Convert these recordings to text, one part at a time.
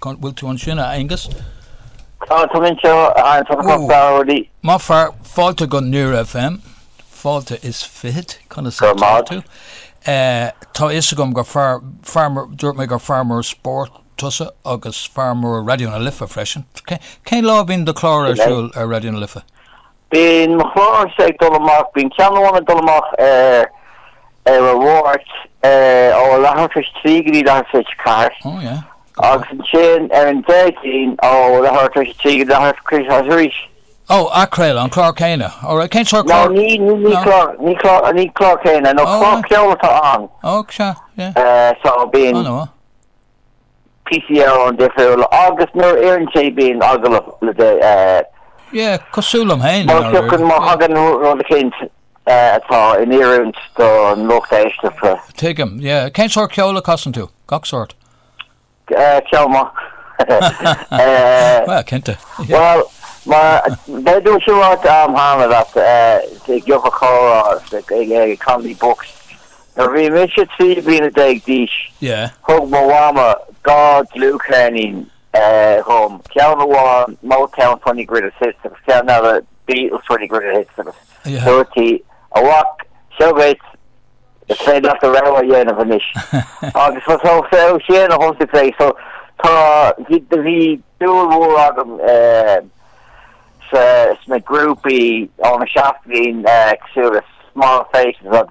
An bhfuil tú ansin, a Aonghus? Maith fear, fáilte go Near FM, fáilte is fiche, conas atá tú? Tá fhios agam gur fear mór, dúirt mé gur fear mór spóirt tusa agus fear mór Raidió na Life freisin. Cén lá a bhíonn do chlár ar siúl ar Raidió na Life? Bíonn mo chlár-sa ag dul amach, bíonn ceann amháin ag dul amach ar ar an Mháirt ó a leath tar éis trí go dtí leath tar éis a ceathair. Ó yeah. Agus ansin ar an Déardaoin ó leath tar éis a trí go leath tar éis a ceathair arís. Ó, athchraoladh an chlár céanna. Ó right, cén sórt clár? No, ní ní ní clár, ní clár, ní clár céanna, nó clár ceoil atá ann. Ó, sea, yeah. Uh, so bíonn... Oh, no. píosaí ceoil difriúla agus nuair a oireann sé bíonn agallamh le déanamh. Yeah, cosúil liom féin. Má thiocfainn má thagann rud éicint atá in oiriúint don lucht éisteachta. Tuigim, yeah. Cén sórt ceoil a casann tú? Gach sórt? Ceol maith. Bhuel, cinnte. Bhuel, mar dúirt mé cúpla am cheana leat, i gCill Chorcóra, i Connolly Books, Nuair a bhí mise trí bliana déag d'aois, thug mo Mhama dhá dlúthcheirnín dhom, ceann amháin Motown Twenty Greatest Hits agus ceann eile Beatles Twenty Greatest Hits agus dúirt sí, A mhic, seo dhuit, is féidir leat do rogha a dhéanamh anois. Agus ba ó shin a thosaigh mé, so tá bhí dúil mhór agam eh, sna grúpaí ó na seachtóidí eh, cosúil le Small Faces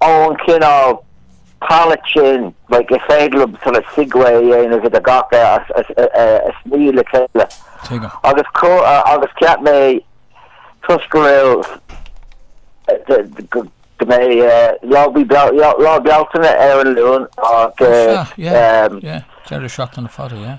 ón chineál palette sin, like is féidir liom sort of segue a dhéanamh idir agus iad a shníomh le chéile. Tuigim. Agus agus cheap mé toisc go raibh go go mbeidh Lá Bí Lá Bealtaine ar an Luan ach. Sea, yeah, yeah, deireadh seachtaine fada, yeah.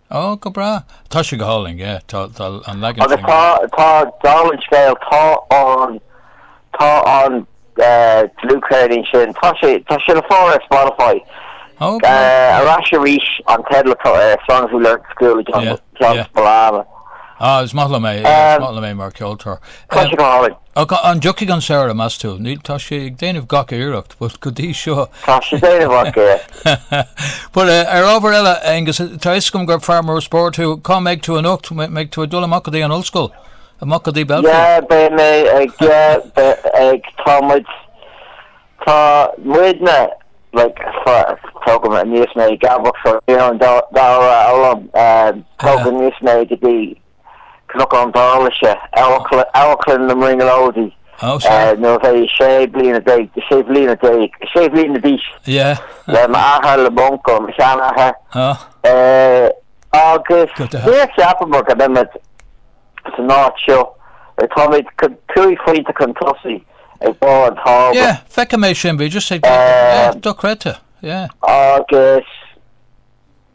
Ó, go breá. Tá sé go hálainn, yeah. Tá, tá an leagan Agus sin. tá, tá, dála an scéil, tá an, tá an eh, dlúthcheirnín sin, tá sé, tá sé le fáil ar Spotify. Ó, go breá. Uh, Arís arís an teideal atá ar Songs We Learned at School le John, Yeah, John yeah. Spillane. Ah, is maith liom é, Um, is maith liom é mar ceoltóir. Tá Um, sé go hálainn. Ach an dtiocfaidh an samhradh, meas tú? Níl, tá sé ag déanamh gach iarracht, but go dtí seo. Tá sé ag déanamh gach iarracht. But ar ábhar eile, Aonghus, tá a fhios agam gur fear mór spóirt thú, cá mbeidh tú anocht? Mbeidh tú ag dul amach go dtí an ollscoil? Amach go dtí Belfield? Yeah, beidh mé ag, yeah, beidh ag, tá muid, tá muidne, like, tógadh aníos mé ag gabhadh fá raon dá dhamhra a fhoghlaim, tógadh aníos mé go dtí Cnocán Dálaise, Amharclann na mBrionglóidí, nuair a bhí mé sé bliana déag, sé bhliana déag, sé bhliana d'aois, le m'athair, le m'uncail, mo sheanathair, agus níor cheapamar go mbeimid san áit seo, táimid cúig phointe chun tosaigh ar bharr an tábla. Yeah, feicim é sin, bhí just ag, yeah, dochreidte, yeah. Agus.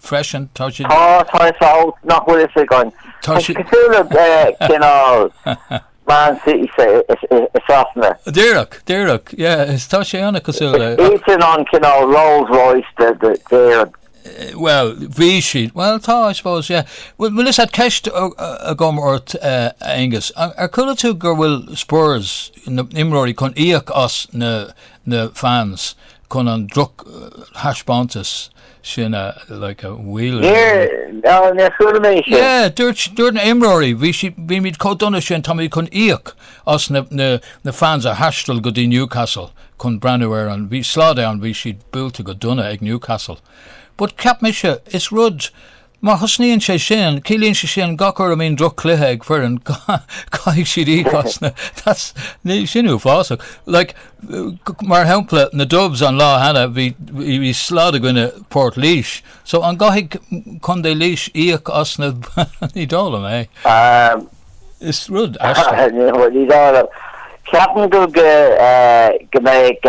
freisin, tá sé... Tá, tá fhios agam nach bhfuil fhios againn. Tá sé... cosúil le cineál Man City as Sasana. Díreach, díreach, yeah, is tá sé an-chosúil le... Is é sin an cineál Rolls Royce de d'Éireann. Eh, well, bhí siad, well, tá, I suppose, yeah. Well, well listen tá ceist agam ort, uh, Aengus, ar chuala tú go bhfuil Spurs na imreoirí chun íoc as na, na fans chun an droch uh, eh, thaispeántas sin a, like an bhfuil. Níor, á, níor chuala mé sin. Yeah, dúirt, dúirt na imreoirí, bhí si, bhí muid chomh dona sin, táimid chun íoc as na, na, na fans a thaistil go dtí Newcastle chun breathnú ar an, bhí slad ann, bhí siad buailte go dona ag Newcastle. But cheap mise, is rud, Má thosnaíonn sé sin, ciallaíonn sé sin gach uair a mbíonn droch-chluiche ag foireann, caithfidh siad íoc as na, that's, sin uafásach. Like, mar shampla, na Dubs an lá cheana, bhí, bhí slad i gcoinne Port Laoise, so an gcaithfidh Contae Laois íoc as na, ní dóigh liom é. Um, Is rud aisteach. ní dóigh liom. Ceapaim go go mbeidh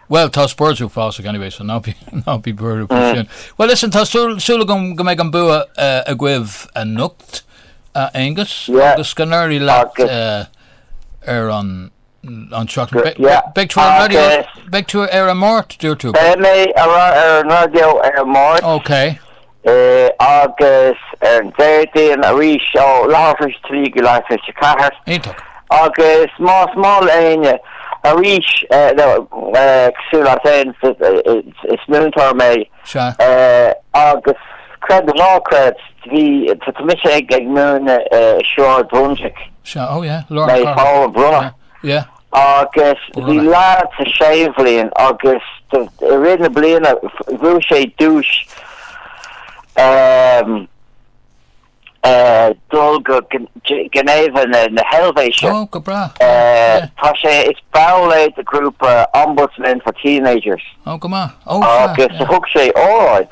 Bhuel, tá Spurs uafásach anyway, so ná bí buartha faoi sin. Bhuel, listen, tá súil agam go mbeidh an bua agaibh anocht, a Aonghus, agus go n-éirí leat ar an seachtain. Beidh tú ar an raidió, beidh tú ar an Máirt, dúirt tú? Beidh mé ar an raidió ar an Máirt. Ok. é agus ar Déardaoin arís ó leath tar éis a trí go leath tar éis a ceathair. Iontach. Agus más maith leat Áine arís cosúil leat fhéin is múinteoir mé Sea. agus creid nó ná creid bhí tá mise ag múineadh Sráid Brunswick. Sea, oh yeah, Lorna Cormack. Mé faoi Brunner. Yeah. Agus bhí leaid sa séú bliain agus i rith na bliana bhuaigh sé duais dul go Geneva na hEilvéise. Oh, go breá. Tá sé, is ball é de ghrúpa Ombudsman for Teenagers. Oh, go maith. Oh, fab, yeah. Agus thug sé óráid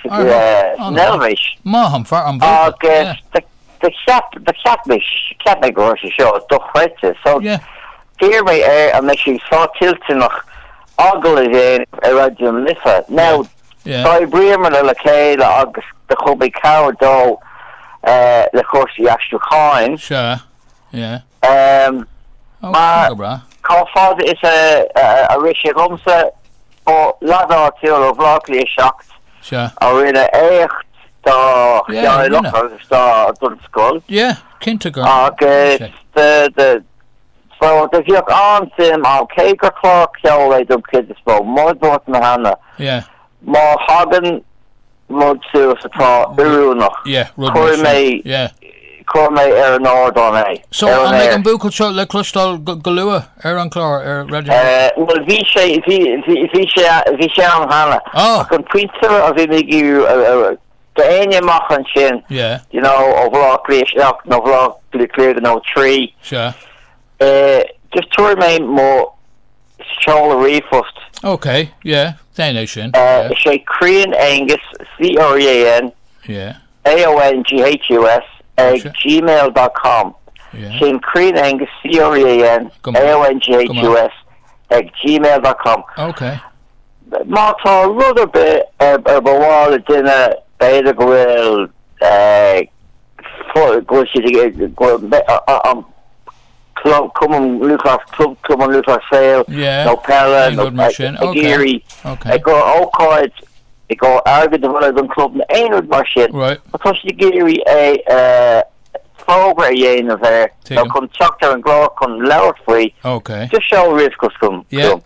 san Eilvéis. Maith an fear an-bhualadh, yeah. Agus Do cheap, do cheap mé, cheap mé go raibh sé seo dochreidte, so d'iarr mé air an mbeidh sé sásta toilteanach agallamh a dhéanamh ar Raidió na Life. Now, d'oibríomar le chéile agus do chuir mé cabhair dó le cúrsaí aistriúcháin. Sure, yeah. Mar, chomh fada is a rith sé dhomsa, ba lead áitiúil ó Bhleá Cliath 7 a rinne éacht dá theaghlach agus dá don scoil agus do bhíodh an-suim ann, cé gur clár ceoil é don chuid is mó, mar a dúirt mé cheana, má thagann rud suas atá oiriúnach, cuirfidh mé, cuirfidh mé ar an ardán é, ar an aer. An mbeidh an buachaill seo le cloisteáil go luath ar an chlár ar Raidió na Life? Bhuel, bhí sé, bhí, bhí, bhí sé, bhí sé ann cheana. Ach an pointe a bhí mé ag iarraidh, d'éinne amach ansin, you know, ó Bhleá Cliath 7 nó Bhleá Cliath 3, just tabharfaidh mé mo Seoladh ríomhphoist. OK, yeah, déan é sin. Uh, yeah. 'Sé Crean Aonghus, C-R-E-A-N, yeah. A-O-N-G-H-U-S, ag sure. gmail.com. Yeah. Sin Crean Aonghus, C-R-E-A-N, A-O-N-G-H-U-S, ag gmail.com. OK. Má tá rud ar bith ar mhaith le duine b'fhéidir go bhfuil eh, go si an Club Cumann Lúthchleas, Club Cumann Lúthchleas Gael nó Peile nó aon rud mar sin, ag iarraidh ag cur ócáid ag cur airgead a bhailiú don chlub nó aon rud mar sin, tá siad ag iarraidh é fógra a dhéanamh air nó chun teacht ar an gclár chun labhairt faoi. Just seol ríomhphost chugam.